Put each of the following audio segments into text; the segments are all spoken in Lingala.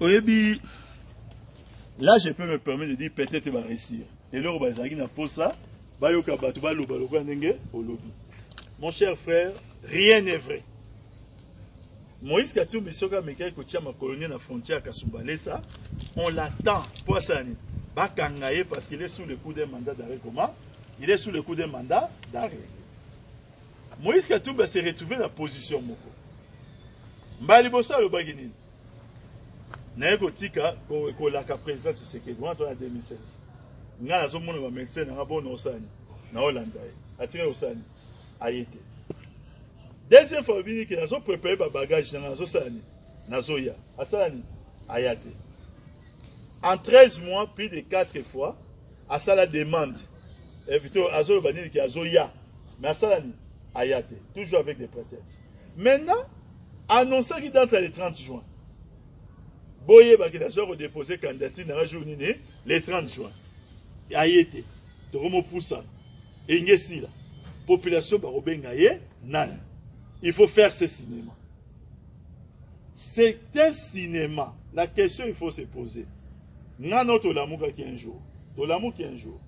oyebi là je peux me permettre de dire peut-être va réussir et là on va na posa ba yoka batu ba loba loba ndenge olobi mon cher frère rien n'est vrai Moïse Katumbi soka mekai ko tia ma colonie na frontière Kasumbalesa on l'attend posa ni ba kangaye parce qu'il est sous le coup d'un mandat d'arrêt comment il est sous le coup d'un mandat d'arrêt Moïse Katumbi a se retrouver na position moko. Mbala liboso alobaki nini? naye kotika kolaka président tshisekedi wana tona 2016 ngai nazomona bamédecin nanga bo naosani naolanda ye atika kosani aye te deuxième fois obini ke nazoprépare babagage nanga nazosala nini nazoya asala nini aya te en 13 mois plus de 4 fois Asala demande. Invité azoloba nini ki azoya. Mais asala nini? Aya te. Toujours avec des prétextes. Maintenant, annoncaki date ya le 30 juin. Boyebaki nazoya kodepose candidature na nga jour nini? Le 30 juin. Aye te. Tokomopusana. Enge sila. Population bakobenga ye nani? Il faut faire ce cinéma. C'est un cinéma. La question il faut se poser. nga no tolamukaki un jour tolamuki un jour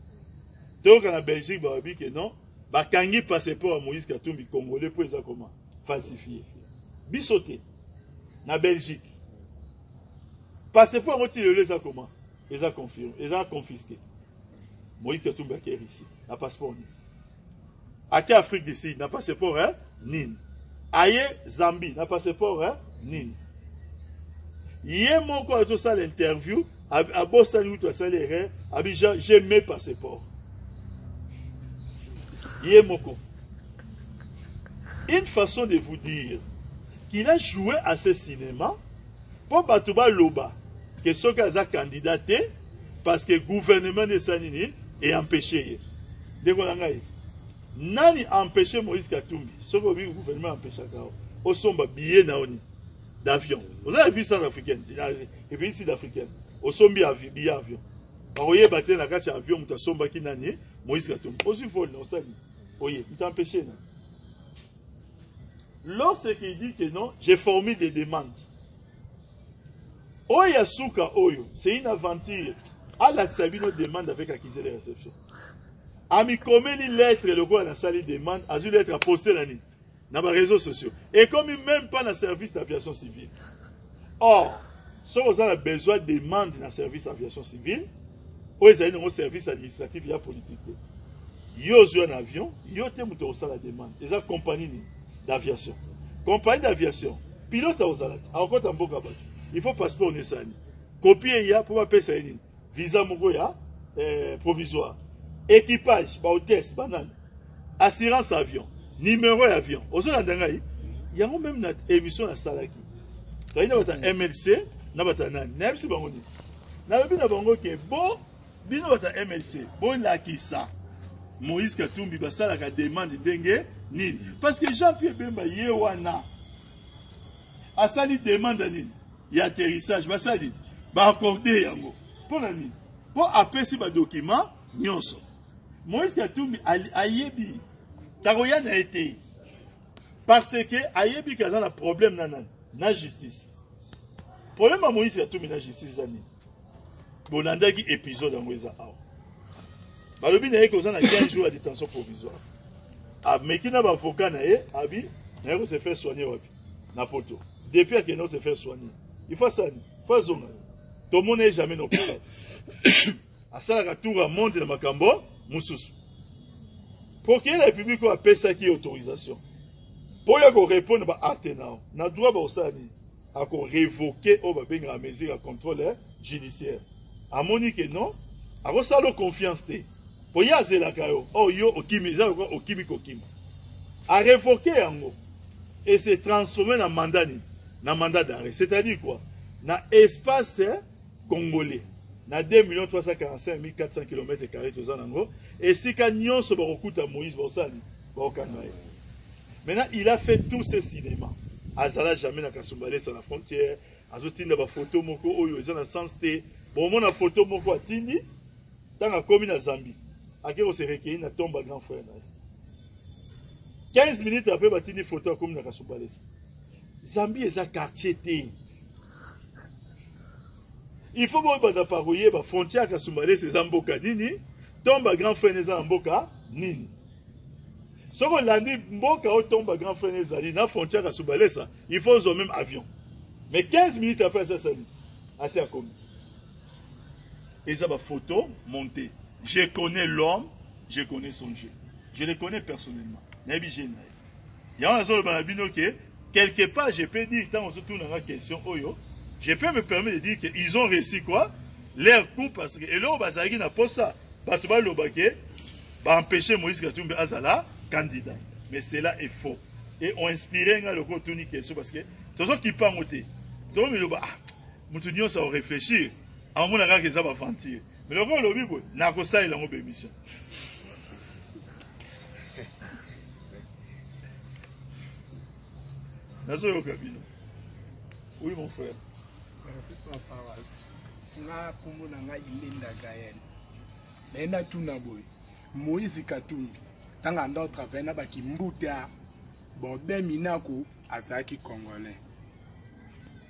toyoka na belgique balobi ke non bakangi passeport ya moïse katumbi congolais mpo eza koma falsifie biso te na belgique passeport yango ti lelo eza koma eza confirme eza confisque moïse katumbi ake russie na passeport nini ake afrique du sud na passeport eh? nini aye zambie na passeport eh? nini ye moko azosala interview abosani kutu asali erreur abi j'ai mes passeports ye moko une façon de vous dire qu'il a joué à ce cinéma Po batu ba loba que soki aza candidat te parce que gouvernement nde esali nini e empêcher ye. Ndeko na ngai, nani empêcher Moïse Katumbi? Soki obi gouvernement empêchaka yo, osomba billet na oni d'avion. Oza vie sans africaine, et puis sud africaine. Osombi avi billet avion. Bakoyeba te na kati ya avion moto asombaki nani Moïse Katumbi. Ozwi vol na osali. Oye, moto empêcher na. Lorsqu'il dit que non, je formule des demandes. Oyo ya suka oyo, c'est une aventure. Alakisa bino demande avec accusé de réception. Amikomeli lettre lokola nasali demande, azwi lettre à poster na nini? Na ba réseaux sociaux. Et comme même pas na service d'aviation civile. or soki oza na besoin demande na service aviation civile oyo ezali nango service administratif ya politique te yo ozwa na avion yo te moto akosala demande eza compagnie nini d'aviation compagnie d'aviation pilote akozala te akokota mboka bato il faut passeport nesani kopie eya mpo bapesa ye nini visa moko ya eh, provisoire équipage ba hôtesse banani assurance avion numéro ya avion ozolanda ngai yango meme na émission nasalaki toyei na bata mlc na bata nani nayebisi bango nini nalobi na bango ke bo bino bata mlc bolakisa moïse katumbi basalaka demande ndenge nini parce que jean pierre bemba ye wana asali demande ya nini ya atterrissage basali baakorde yango mpo na nini mpo apesi badokima nyonso moïse katumbi ayebi takoya na ye te parce que ayebi ke aza na problème na nani na justice problème ya moïse katumbi na justice eza nini bolandaki épisode yango eza awa balobi na ye ke oza na 15 jours ya détention provisoire ameki na bavocat na ye abi naye ko se faire soigner wapi na poto depuis akende ose faire soigner il faut asala nini faut azonga tomona ye jamais na hôpital asalaka tour ya monde na makambo mosusu procureur ya république oyo apesaki ye autorisation mpo oyo akorépondre baacte na yo na droit bakosala nini akorevoke oyo babengaka mesure ya contrôle judiciaire amoni ke non akosala confiance te Po ye azelaka yo or yo okimi eza lokola okimi kokima a revoquer yango et se transformer na mandat nini na mandat d'arret c'est à dire quoi na espace congolais na 2 millions 345 400 kilomètres carré toza nango esika nyonso bakokuta moïse bosani bakokanga ye maintenant il a fait tous ces cinémas azala jamais na kasumbalesa na frontière azotinda bafoto moko oyo eza na sens te bomona foto moko atindi Tango akomi na Zambie, ake ko se recueillir na Tomba grand frère na ye. 15 minutes après batindi photo akomi na Kasubalesa. Zambie eza quartier te. Il faut bo banda par oyeba frontière Kasubalesa eza mboka nini? Tomba grand frère eza na mboka nini? soki olandi mboka oyo tomba grand frère ezali na frontière kasubalesa il faut ozwa même avion mais 15 minutes après asasani asi akomi eza ba photo monte je connais l'homme je connais son jeu je le connais personnellement nayebi je na ye yango nazoloba na bino ke quelque part je peux dire ntango ozotunanga question oyo je peux me permettre de dire que ils ont réussi quoi leur coup parce que eloko bazalaki na posa bato baloba ke baempêche moïse katumbi azala candidat mais cela est faux et ont inspiré nga lokola otuni question parce que tozokipa yango te tokomiloba ah Mutu nionso ako reflechir amona kaka eza ba aventure mais lokola olobi boye nakosalela yango ba emission nazoyoka bino oui mon frère merci pour la parole nga kombo na nga ilinda gael naye natuna boye moïse katumbi ntango anda otravaille na bakimbute a bode minaku azalaki congolais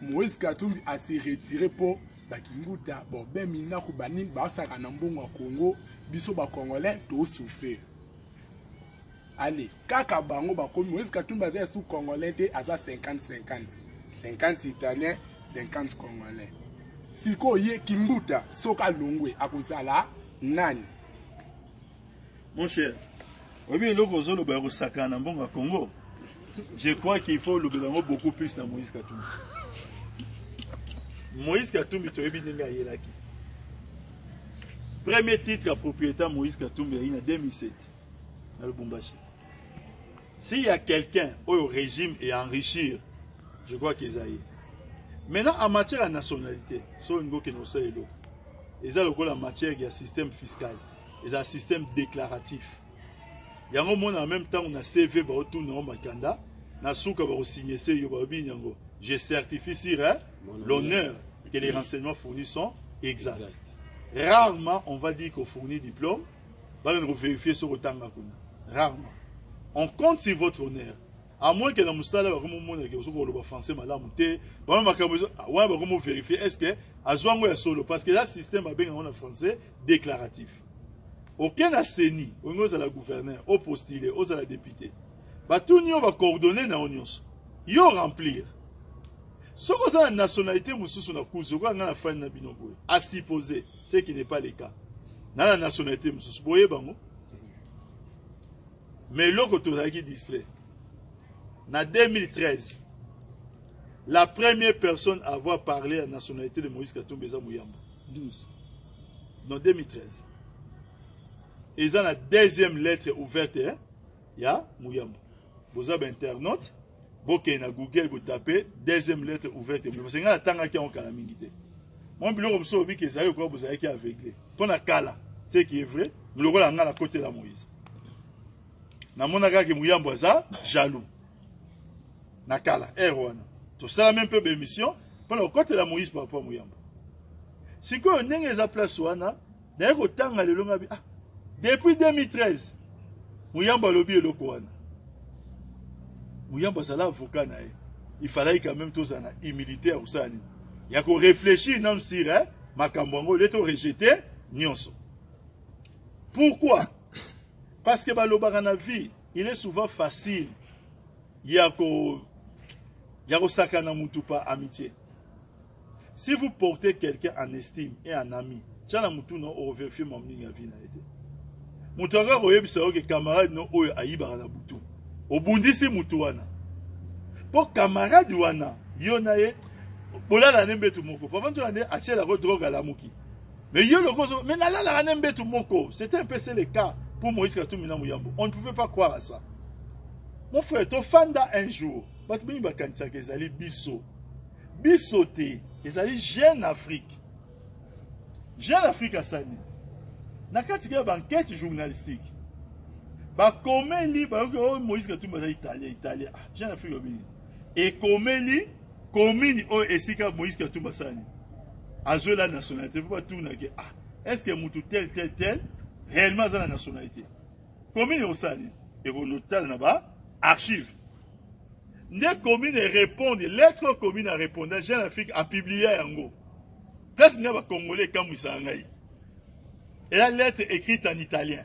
moïse katumbi asi retire mpo bakimbuta bobe minaku banini basaka na mbongo ya congo biso bacongolais tosouffrir ale kaka bango bakomi moïse katumbi aza esu congolais te aza 50 50 50 italien 50 congolais sikoyo ye kimbuta soki alongwe akozala nani Mon cher, oyebi eloko ozoloba ya kosakana na mbongo ya Congo je crois qu'il faut olobela yango beaucoup plus na Moïse Katumbi Moïse Katumbi toyebi ndenge ayelaki premier titre ya propriétaire Moïse Katumbi ayi na 2007 na Lubumbashi s'il y a quelqu'un au régime et enrichir je crois qu'ils aillent maintenant en matière ya nationalité soki ngoki na osala eloko eza lokola matière ya système fiscal ezala système déclaratif yango omona na meme ntango na cv baotuna yango makanda na suka bakosigne se yo balobini yango je certifie sur eh, l'honneur que les renseignements fournis sont exacts exact. rarement on va dire kofournir diplôme bakende kovérifie soki otanga kuna rarement on compte sur votre honneur à moins que na mosala bakomi omona ke ozoki koloba français malamu te bama makambo wana bakomi overifie est ce que azwa yango ya solo parce que eza système babenga yango na français declaratif oke na seni olingi ozala gouverneur opostile ozala depute batuni yo bacoordonne na yo nyonso yo remplir soki oza na nationalité mosusu na kuzu okoya ngai na fani na bino boye asupose ce qui n'est pas le cas na na nationalité mosusu boye bango mais eloko tozalaki distrait na 2013 la première personne à avoir parlé ya nationalité de moïse katumbi eza moyamba 12 non 2013 eza na deuxième lettre ouverte eh? ya muyamba boza bainternaute bokende na google botape deuxième lettre ouverte ya muyamba parce ngai natangaki yango kala mingi te mwa biloko mosusu obiki ezali okoka bozalaki aveugle mpo na kala ce qui est vrai lokola ngai nakotela moïse namonaka ke muyambo aza jaloux na kala heure wana tosala meme mpe baémission mpo na kokotela moïse papa moyamba sikoyo ndenge eza place wana naye kotanga lelo ngabi ah depuis 2013 moyamba alobi eloko wana moyamba azala avocat na ye il falaki quand même tozala na humilité ya kosala nini ya koreflechir nanu sire eh? makambo yango le torejete nyonso pourquoi parce que balobaka na vie il est souvent facile ya ko ya kosakana mutu pa amitié si vous portez quelqu'un en estime et en ami tya na mutu na overfie mwa mingi ya vie na ye te moto akaka koyebisa yo ke camarade no oyo ayibaka na butu obundisi motu wana mpo camarade wana yo na ye bolala nde mbetu moko papa ntoya nde atyelako drogue alamuki Mais yo le gozo, mais la la la la mbetu moko, c'était un peu c'est le cas pour Moïse Katumbi na Muyambo. On ne pouvait pas croire à ça. Mon frère, to fanda un jour, batu mingi bakanisa ke ezali biso. Biso te, ezali jeune Afrique. Jeune Afrique asani. Na kati ke ba enquête journalistique. Ba komeli ba yo oh, Moïse Katumbi azali italien, italien. Ah, jeune Afrique obini. ekomeli commune oyo esika moïse katumba asali azwela nationalité mpo batunaki ah est ce que motu tel tel tel réellement aza na nationalité commune ekosala nini ekonotala na ba archive nde commune ereponde lettre oyo commune areponda jeune afrique apiblia yango place ngai bacongolais ekamwisaka ngai eya lettre écrite en italien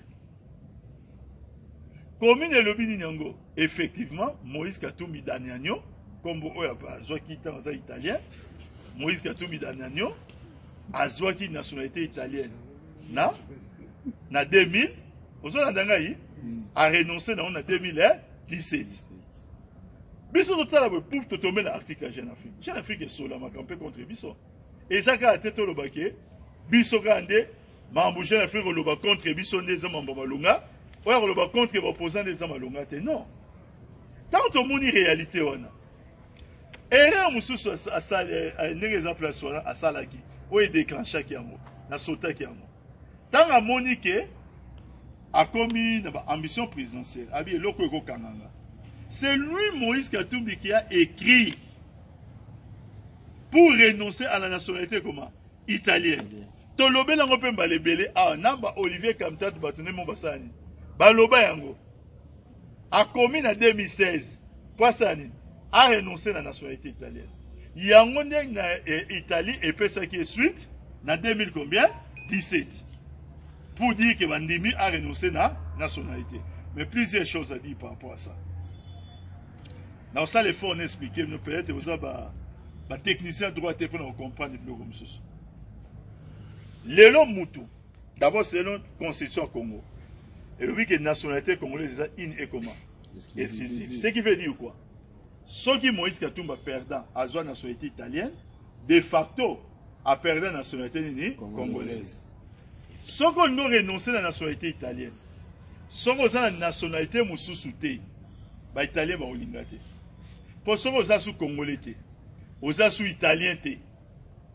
commune elobi nini yango effectivement moïse katumbi danianio nkombo oyo azwaki ntango aza italien moïse katumbi danianio azwaki nationalité italienne na na 2000 ozolanda ngai arenonce nango na 2017 biso totala boye pour totombe na article ya jeune afrique jeune afrique esolamaka mpe contre biso eza kaka te tolobake biso kaka nde Mambo Jean Afrique oloba contre biso nde eza mambo malonga. Oya koloba contre ba opposants nde eza malonga te. Non. Tant tomoni réalité wana. Erreur mususu asali eh, eh, ndenge eza place wana asalaki. Oyo déclenchaki yango. Na sotaki yango. Tant amoni que akomi na ba ambition présidentielle abi eloko ekokanga nga c'est lui moïse katumbi qui a écrit pour renoncer à la nationalité comment italienne Tolobeli yango mpe mbala ebele awa na ba Olivier Kamtatu bato nde mo basala nini baloba yango akomi na 2016 mpo asala nini arenonce na nationalité italienne yango nde na eh, italie epesaki ye suite na 2000 combien 17 pour dire que bandimi arenonce na nationalité mais plusieurs choses à dire par rapport à ça naosala effort na expliquer bino peut-être oza ba batechnicien droit te mpo na kocomprendre biloko mosusu lelo mutu d'abord selon constitution ya congo elobi ke nationalité congolaise eza in ekoma exclusive ce qui veut dire quoi soki moïse katumba perdant azwa nationalité italienne de facto aperdant nationalité nini congolaise soki olingi orenonce na nationalité italienne soki oza na nationalité mosusu te baitalien bakolinga te mpo soki oza su congolais te oza su italien te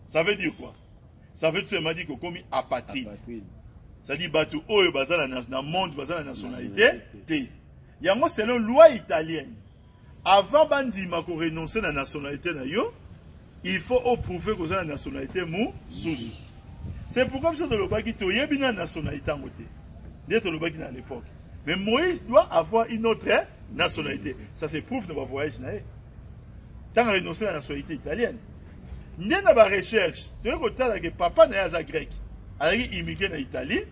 Ça veut dire quoi? Ça veut dire m'a dit que komi apatride. Ça dit batu oyo bazala na, na monde bazala nationalité te. Yango selon loi italienne. Avant bandima ko renoncer na nationalité na yo, il faut prouver que la nationalité mou sous. C'est pourquoi je le qui toyebi na nationalité en côté. Dès le baki à l'époque. Mais Moïse doit avoir une autre nationalité. Ça c'est prouve de ma voyage naïe. ntango renonce na nationalité italienne nde na barecherche toyei kotala ke papa na ye aza grec azalaki immigre na italie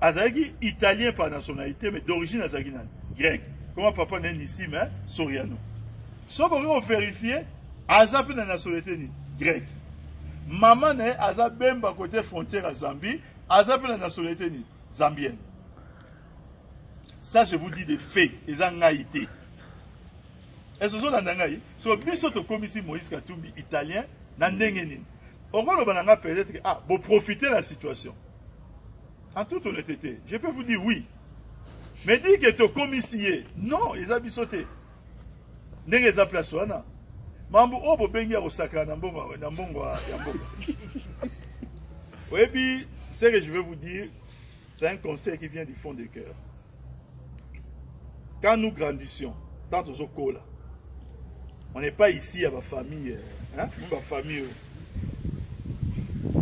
azalaki italien par nationalité mais d'origine azalaki nani grec koma papa na ye nisime soriano soki okoki koverifie aza mpe na nationalité nini grec mama na ye aza bemba kote frontière ya zambie aza mpe na nationalité nini zambienne ça je vous dis de fait eza ngai te Est-ce que ozolanda ngai? So biso tokomisi Moïse Katumbi italien na ndenge nini? Okoloba na ngai peut-être ah bo profiter la situation. En toute honnêteté, je peux vous dire oui. Mais dire que tokomisi ye, non, eza biso te. Ndenge eza place wana. Mambo oyo bobengi ya kosakana na mbongo na mbongo ya mbongo. Oyebi, ce que je vais vous dire, c'est un conseil qui vient du fond du cœur. quand nous grandissions tant tozokola on n'est pas ici ya bafamille hein? bafamille oyo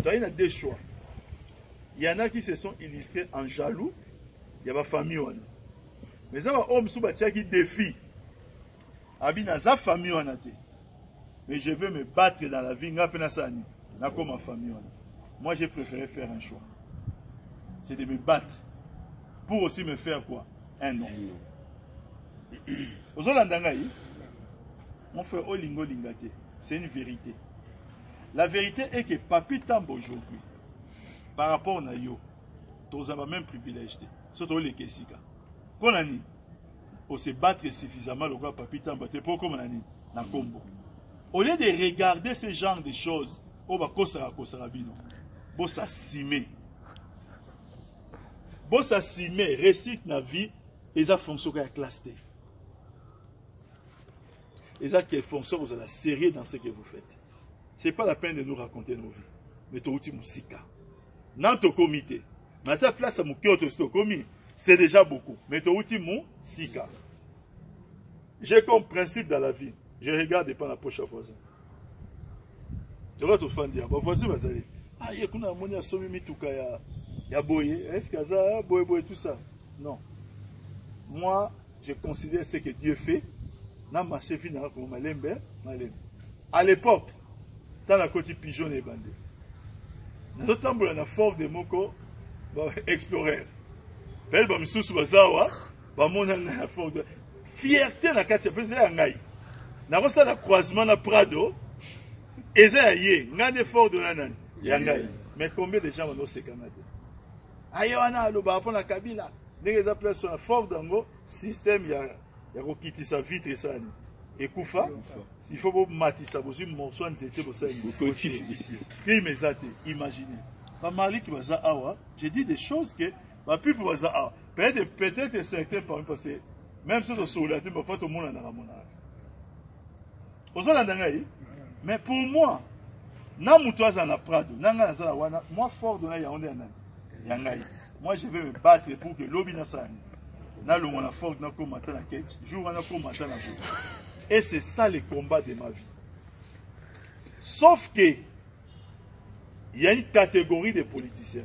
tozali na deux choix il y en a qui se sont illustrés en jaloux ya bafamille wana mais eza baoyo mosusu batiaki défi Abi naza famille wana te. Mais je veux me battre dans la vie nga pe nasala nini? Nakoma famille wana. Moi j'ai préféré faire un choix. C'est de me battre pour aussi me faire quoi? Un nom. Ozolanda ngai? Mon frère olingo linga te. C'est une vérité. La vérité est que Papi Tambo aujourd'hui, par rapport na yo, tozaba même privilège te. Soto oleke sika. Pona nini? o se battre suffisamment lokola papi tamba te mpo okoma na nini na nkombo au lieu de regarder ce genre de choses oyo bakosaka kosaka bino bosasime bosasime réussite na vie eza fonction ka ya classe te eza que fonction kozala sérieux dans ce que vous faites c'est pas la peine de nous raconter nos vies mais towuti mosika Nanu tokomi te. Mais ata place ya moke oyo tosi tokomi, c'est déjà beaucoup. Mais towuti mosika. J'ai comme principe dans la vie, je regarde pas na poche ya voisin. Lokola tofandi ya bavoisin bazali. Ah, ye kuna amoni asomi mituka ya ya boye, est-ce que aza boye boye tout ça? Non. Moi, je considère ce que Dieu fait. Na marché vie na koma malembe, malembe. À l'époque, tala koti pigeon na ebandeli nazotambola na ford moko ba explorer pele bamisusu baza awa bamona ngai na ford fierté na kati ya mpenza ya ngai nakosala croisement na prado eza ya ye ngai nde ford na nani ya ngai mais combien de gens banosekana te aye wana alobaka mpo na kabila ndenge eza place wana ford yango système ya ya kokitisa vitre esani ekufa il faut bomatisa bozwi morso ya nzete bosalime eza te imagine bamaliki baza awa je dis des choses que bapipo baza awa peut-être peut-être certain parmi parce que même soki tosolola te bafa tomonanaka monaka ozolanda ngai mais pour moi na moto aza na prado na ngai nazala wana mwa ford na yango nde ya nani ya ngai Moi je vais me battre pour que lobi na sani na longo na forge na koma ta na ketch jour wana koma ta na jour et c'est ça le combat de ma vie sauf que il y a une catégorie de politiciens